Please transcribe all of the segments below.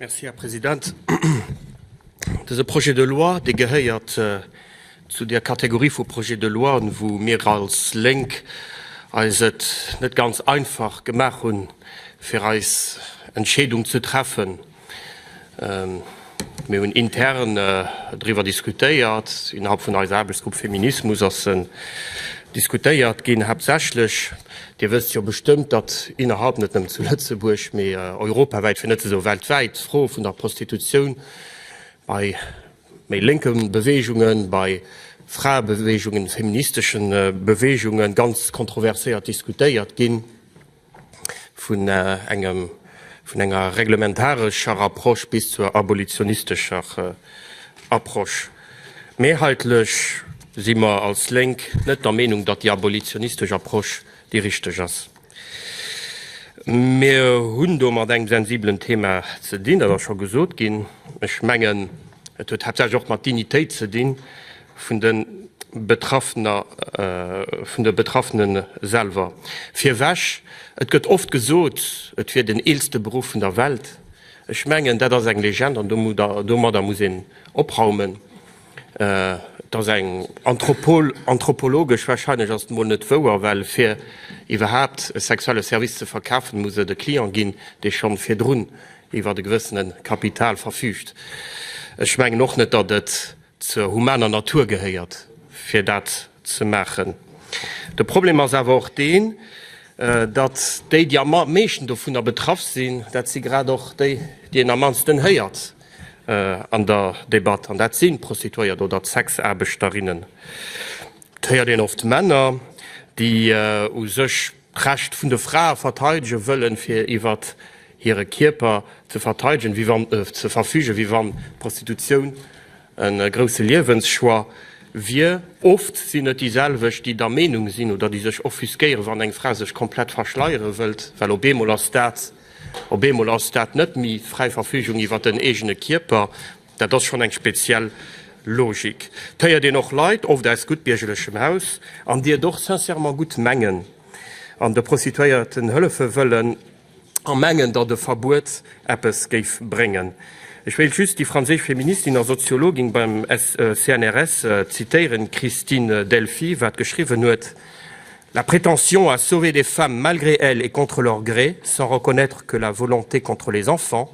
Merci, Här President. Dëse Projet de loi, dee gehéiert zu där Kategorie vu Projets de loien, wou mir als Lénk eis et net ganz einfach gemaach hunn, fir eis Entscheedung ze treffen. Mir hunn intern driwwer diskutéiert, innerhalb vun eiser Aarbechtsgrupp Feminismus ass se diskutéiert ginn, haaptsächlech, Dir wësst jo bestëmmt, datt innerhalb net nëmmen zu Lëtzebuerg, mee europawäit, fir net ze soe weltwäit, d'Fro vun der Prostitutioun bei méi lénke Beweegungen, bei Fraebeweegungen, feministesche Beweegungen ganz kontroverséiert diskutéiert ginn. vun engem, vun enger reglementarescher Approche bis zur abolitionistescher Approche. Mehrheitlich si mer als Lénk net der Meenung, datt déi abolitionistesch Approche déi richteg ass. Mir hunn do mat engem sensiblen Thema ze dinn, dat ass scho gesot ginn. Ech mengen, et huet haaptsächlech och mat Dignitéit ze dinn, vun de Betraffener, vun de Betraffene selwer. Virwech, et gëtt oft gesot, et wier den eelste Beruff vun der Welt. Ech mengen, dat ass eng Legend an domadder muss een opraumen. Et ass eng anthropologesch, warscheinlech ass et emol net wouer, well fir iwwerhaapt e sexuelle Service ze verkafen, muss et e Client ginn, dee schonn virdrun iwwer e gewëssene Kapital verfüügt. Ech mengen och net, datt et zur humaner Natur gehéiert fir dat ze maachen. De Problem ass awer och deen, datt déi déi am meeschten dovunner betraff sinn, dat si grad och déi déi een am mannsten héiert an der Debatt, an dat si Prostituéiert oder d'Sexaarbechterinne. Et héiert een oft Männer déi u sech d'Recht vun de Frae verteidege wëllen, fir iwwer hire Kierper ze verteidegen, wéi wann, ze verfügen, wéi wann d'Prostitutioun e grousse Liewenschoix wier. Oft sinn et déi selwecht, déi der Meenung sinn oder déi sech offusquéieren, wann eng Fra sech komplett verschleiere wëllt, well op eemol ass dat, op eemol ass dat net méi fräi Verfügung iwwer den eegene Kierper. Dat ass schonn eng speziell Logik. Et héiert een och Leit, oft aus guttbiergerlechem Haus, an déi et och sincèrement gutt mengen an de Prostituéierten hëllefe wëllen a mengen, datt e Verbuet eppes géif bréngen. Ech wéilt just déi franséisch Feministin a Soziologin beim CNRS zitéieren, d'Christine Delphy, wat geschriwwen huet, La prétention à sauver des femmes malgré elles et contre leur gré, sans reconnaître que la volonté contre les enfants,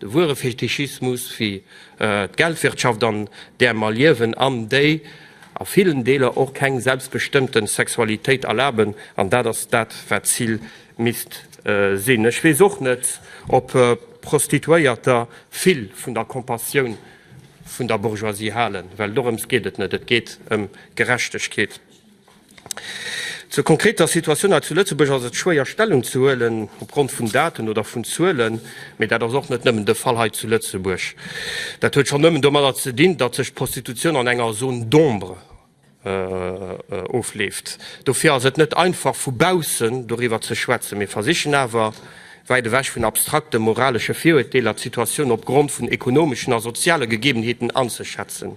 De wuere Fetischismus, wéi d'Geldwirtschaft an där mer liewen an déi a villen Deeler och keng selbstbestëmmten Sexualitéit erlaben, an dat ass dat wat d'Zil misst sinn. Ech weess och net ob Prostituéierter vill vun der Compassioun vun der Bourgeoisie halen, well dorëms geet et net, et geet ëm Gerechtegkeet. Zur konkreter Situatioun hei zu Lëtzebuerg ass et schwéier Stellung ze huelen opgrond vun Daten oder vun Zuelen, mee dat ass och net nëmmen de Fall hei zu Lëtzebuerg. Dat huet schonn nëmmen domadder ze dinn, datt sech d'Prostitutioun an enger Zone d'ombre ofleeft. Dofir ass et net einfach vu baussen doriwwer ze schwätzen. Mir versichen awer, wäit ewech vun abstrakte moralesche Viruerteeler, d'Situatioun opgrond vun ekonomeschen a soziale Gegebenheeten anzeschätzen.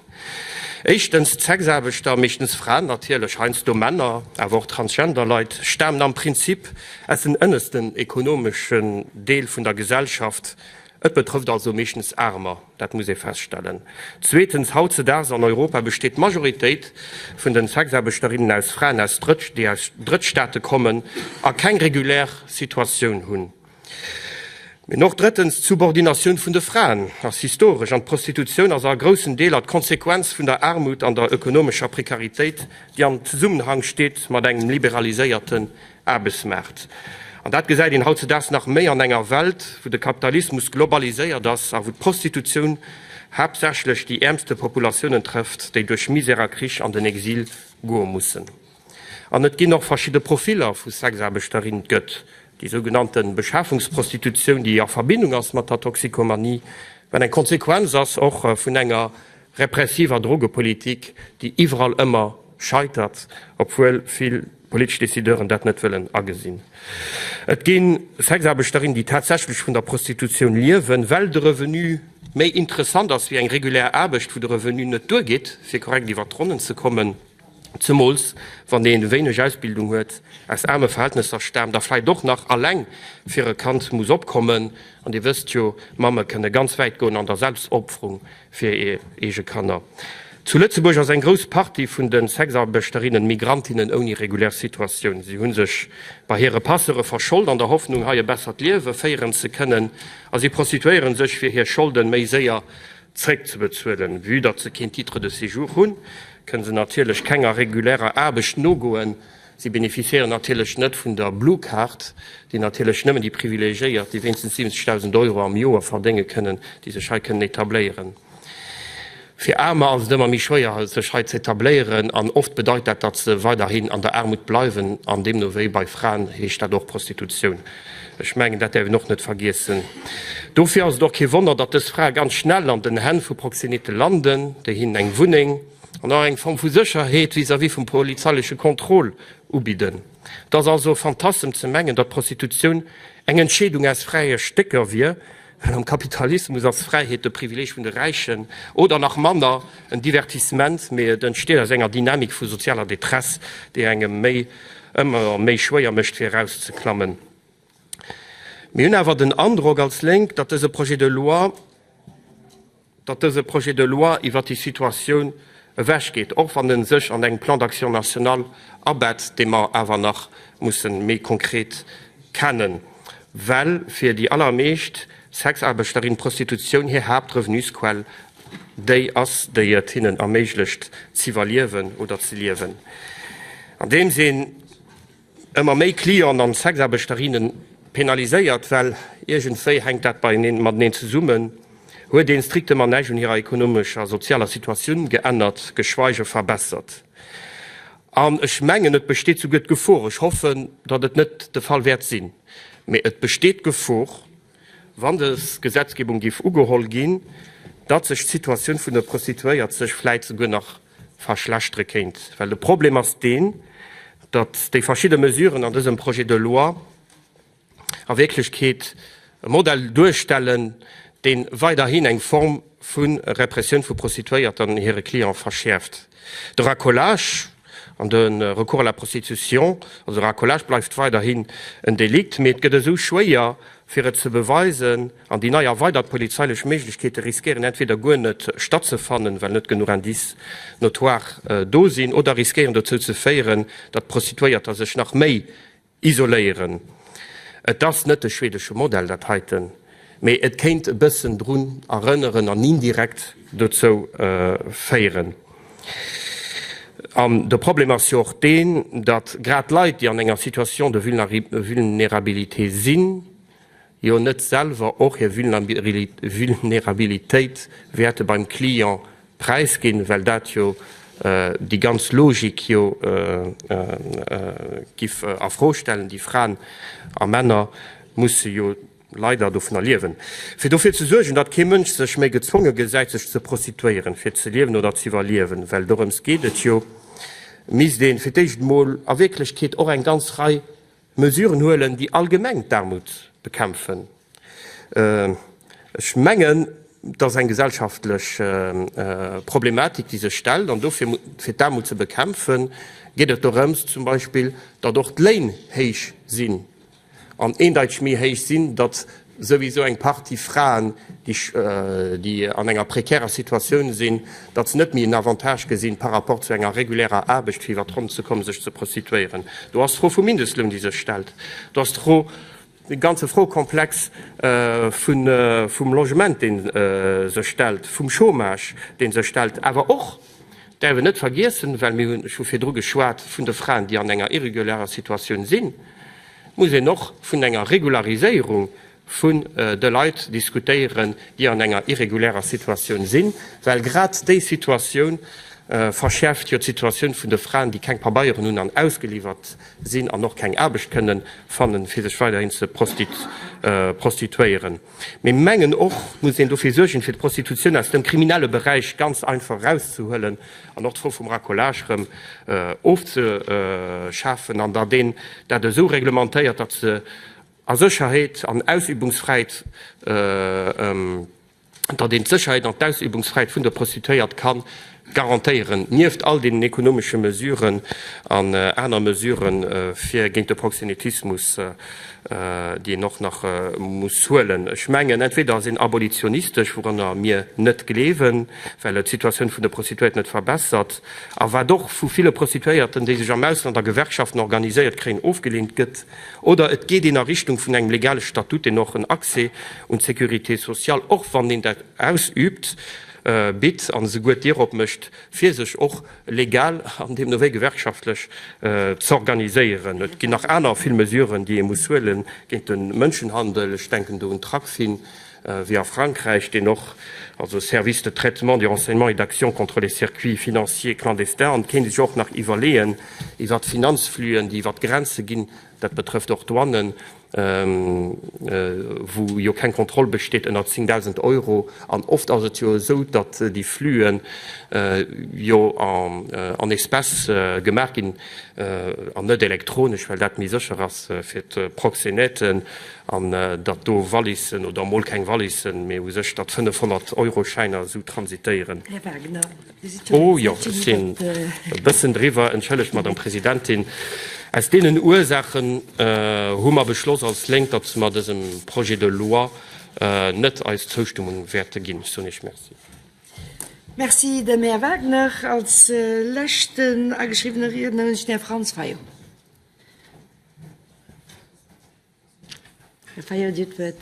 Éischtens, d'Sexaarbechter, meeschtens Fraen natierlech, heiansdo Männer, awer och transgender Leit, stamen am Prinzip aus den ënnesten ekonomesche Deel vun der Gesellschaft. Et betrëfft also meeschtens Aarmer, dat muss ee feststellen. Zweetens, hautzedaags an Europa besteet d'Majoritéit vun de Sexaarbechterinnen aus Fraen, déi aus Drëttstaate kommen a keng regulär Situatioun hunn. Mee och drëttens, d'Subordinatioun vun de Fraen ass historesch an d'Prostitutioun ass a groussen Deeler d'Konsequenz vun der Aarmut an der ökonomescher Prekaritéit, déi am Zesummenhang steet mat engem liberaliséierten Aarbechtsmaart. An dat gesäit een hautzedaags nach méi an enger Welt, wou de Kapitalismus globaliséiert ass a wou d'Prostitutioun haaptsächlech déi äermste Populatiounen trëfft, déi duerch Misär a Krich an den Exil goe mussen. An et ginn och verschidde Profiller vu Sexaarbechterinnen. Et gëtt déi sou genannte Beschafungsprostitutioun, déi a Verbindung ass mat der Toxikomanie, wat eng Konsequenz ass och vun enger repressiver Drogepolitik, déi iwwerall ëmmer scheitert, obwuel vill politesch Decideuren dat net wëllen agesinn. Et gi Sexaarbechterinnen, déi tatsächlech vun der Prostitutioun liewen, well de Revenu méi interessant ass wéi eng regulär Aarbecht, wou de Revenu net duergeet, fir korrekt iwwert d'Ronnen ze kommen. zemools wann een wéineg Ausbildung huet, aus aarme Verhältnesser staamt a vläicht och nach alleng fir e Kand muss opkommen. An Dir wësst jo, Mamme kënne ganz wäit goen an der Selbstopferung fir hir eege Kanner. Zu Lëtzebuerg ass eng grouss Partie vun de Sexarbechterinnen Migrantinnen ouni regulär Situatioun. Si hu sech bei hire Passeure verschold an der Hoffnung, hei e bessert Liewe féieren ze kënnen a si prostituéiere sech, fir hir Scholde méi séier zréckzebezuelen. Vue datt se keen Titre de séjour hunn, kënne se natierlech kenger regulärer Aarbecht nogoen. Si beneficiéieren natierlech net vun der Blue Card, déi natierlech nëmmen déi Privilegiéiert, déi wéinstens 70.000 Euro am Joer verdénge kënnen, déi sech hei kënnen etabléieren. Fir Aarmer ass et ëmmer méi schwéier, sech hei ze etabléieren an oft bedeit dat, datt se weiderhin an der Aarmut bleiwen an deemno wéi bei Fraen heescht dat och Prostitutioun. Ech mengen, dat däerf een och net vergiessen. Dofir ass et och kee Wonner, datt dës Frae ganz schnell an den Hänn vu Proxeneten landen, déi hinnen eng Wunneng an och eng Form vu Sécherheet vis-à-vis vum polizeileche Contrôle ubidden. Et ass also e Fantassem ze mengen, datt d'Prostitutioun eng Entscheedung aus fräie Stécker wier, Well am Kapitalismus ass Fräiheet de Privileeg vun de Räichen oder nach manner en Divertissement, mee et entsteet aus enger Dynamik vu sozialer Detresse, déi engem méi ëmmer méi schwéier mécht fir erauszeklammen. Mir hunn awer den Androck als Lénk, datt dëse Projet de loi, datt dëse Projet de loi iwwert déi Situatioun ewechgeet, och wann e sech an engem Plan d'action national abetzt, dee mer awer nach musse méi konkret kennen, well fir déi allermeescht Sexaarbechterinnen d'Prostitutioun hir Haaptrevenusquell déi ass, déi et hinnen erméiglecht z'iwwerliewen oder ze liewen. An deem Sinn. Ëmmer méi Clienten an Sexaarbechterinnen penaliséiert, well iergendwéi hänkt dat beieneen mateneen zesummen, huet een strictement näischt un hirer ekonomescher, sozialer Situatioun geännert, geschweige verbessert. An ech mengen, et besteet souguer d'Gefor, ech hoffen, datt et net de Fall wäert sinn, mee et besteet d'Gefor, wann dës Gesetzgebung géif ugeholl ginn, datt sech d'Situatioun vun de Prostituéiert sech vläit souguer nach verschlechtere kéint. Well de Problem ass deen, datt déi verschidde Mesuren an dësem Projet de loi a Wierklechkeet e Modell duerstellen, dee weiderhin eng Form vu Repressioun vu Prostituéierten an hire Cliente verschäerft. De Racolage an de Recours à la prostitution, also Racolage, bleift weiderhin en Delikt, mee et gëtt esou schwéier, fir et ze beweisen, An déi nei erweidert polizeilech Méiglechkeete riskéieren entweder guer net stattzefannen, well net genuch Indice notoire do sinn, oder riskéieren dozou ze féieren, datt d'Prostituéierter sech nach méi isoléieren. Et ass net de schwedesche Modell dat heiten, mee et kéint e bëssen drun erënneren an indirekt dozou féieren. An de Problem ass jo och deen, datt grad Leit, déi an enger Situation de vulnerabilité sinn, jo net selwer och hir Vulnerabilitéit wäerte beim Client präisginn, well dat jo déi ganz Logik jo giff a Fro stellen. Déi Fraen a Männer musse jo leider dovunner liewen. Fir dofir ze suergen, datt kee Mënsch sech méi gezwonge gesäit sech ze prostituéieren, fir ze liewen oder z'iwwerliewen, well dorëms geet et jo, misst ee fir d'éischt emol a Wierklechkeet och eng ganz Rei Mesuren huelen, déi allgemeng d'Aarmut bekämpfen. Ech mengen, et ass eng gesellschaftlech Problematik, déi sech stellt, an dofir, fir d'Aarmut ze bekämpfen, geet et dorëms zum Beispill, datt och d'Léin héich sinn, an eendeiteg méi héich sinn, datt souwisou eng Partie Fraen, déi an enger prekärer Situatioun sinn, datt se net méi en Avantage gesinn, par rapport zu enger regulärer Aarbecht fir iwwer d'Ronn ze kommen, sech ze prostituéieren. Do ass d'Fro vum Mindestloun, déi sech stellt. Do ass d'Fro, de ganze Froekomplex vum Logement, dee sech stellt, vum Chômage, dee sech stellt, awer och, Däerf een net vergiessen, well mir hunn, ech hu virdru geschwat vun de Fraen, déi an enger irregularer Situatioun sinn, muss een och vun enger Regulariséierung vun de Leit diskutéieren, déi an enger irregularer Situatioun sinn, well grad déi Situatioun verschäerft jo d'Situatioun vun de Fraen, déi keng Pabeieren hunn an ausgeliwwert sinn an och keng Aarbecht kënnen fannen, fir sech weiderhin ze prostituéieren. Mee mengen och muss een dofir suergen, fir d'Prostitutioun aus dem kriminelle Beräich ganz einfach erauszehuelen an och d'Fro vum Racolage erëm ofzeschafen an datt een dat esou reglementéiert, datt se a Sécherheet an Ausübungsfräiheet, datt een d'Sécherheet an d'Ausübungsfräiheet vun de Prostituéiert kann garantéieren, nieft all deenen ekonomesche Mesuren an aner Mesurë fir géint de Proxenetismus, déi een och nach muss huelen. Ech mengen, entweder ass een abolitionistesch, wouranner mir net gleewen, well et d'Situatioun vun de Prostituéierte net verbessert a wat och vu ville Prostituéierten, déi sech am Ausland a Gewerkschaften organiséiert kréien, ofgeleent gëtt, oder et geet een a Richtung vun engem legale Statut, deen och en Accès un d'Sécurité sociale, och wann een dat ausübt, bitt an esouguer d'Dier opmécht, fir sech och legal an deemno wéi gewerkschaftlech z'organiséieren. Et ginn nach aner vill Mesuren, déi ee muss huele géint de Mënschenhandel. Ech denken do un Tracfin, wéi a Frankräich, deen och, also Service de traitement, de renseignement et d'action contre les circuits financiers clandestins, an et kéint ee sech och nach iwwerleeën, iwwert Finanzflüen, déi iwwert d'Grenze ginn, dat betrëfft och d'Douanen, wou jo keng Kontroll besteet, ënner 10.000 Euro. An oft ass et jo esou, datt déi Flüen jo en espèces gemaach ginn an net elektronesch, well dat méi sécher ass fir d'Proxénèten. An datt do Wallissen oder mol keng Wallissen, mee u sech datt 500-Euro-Schäiner esou transitéieren. Oh jo, ech sinn e bëssen driwwer, entschëllegt, Madame Presidentin. Aus deenen Ursaachen hu mer beschloss als Lénk, datt mer dësem Projet de loi net eis Zoustëmmung wäerte ginn. Ech soen Iech Merci. Merci dem Här Wagner. Als leschten ageschriwwene Riedner hunn ech den Här Franz Fayot. Här Fayot, Dir hutt d'Wuert.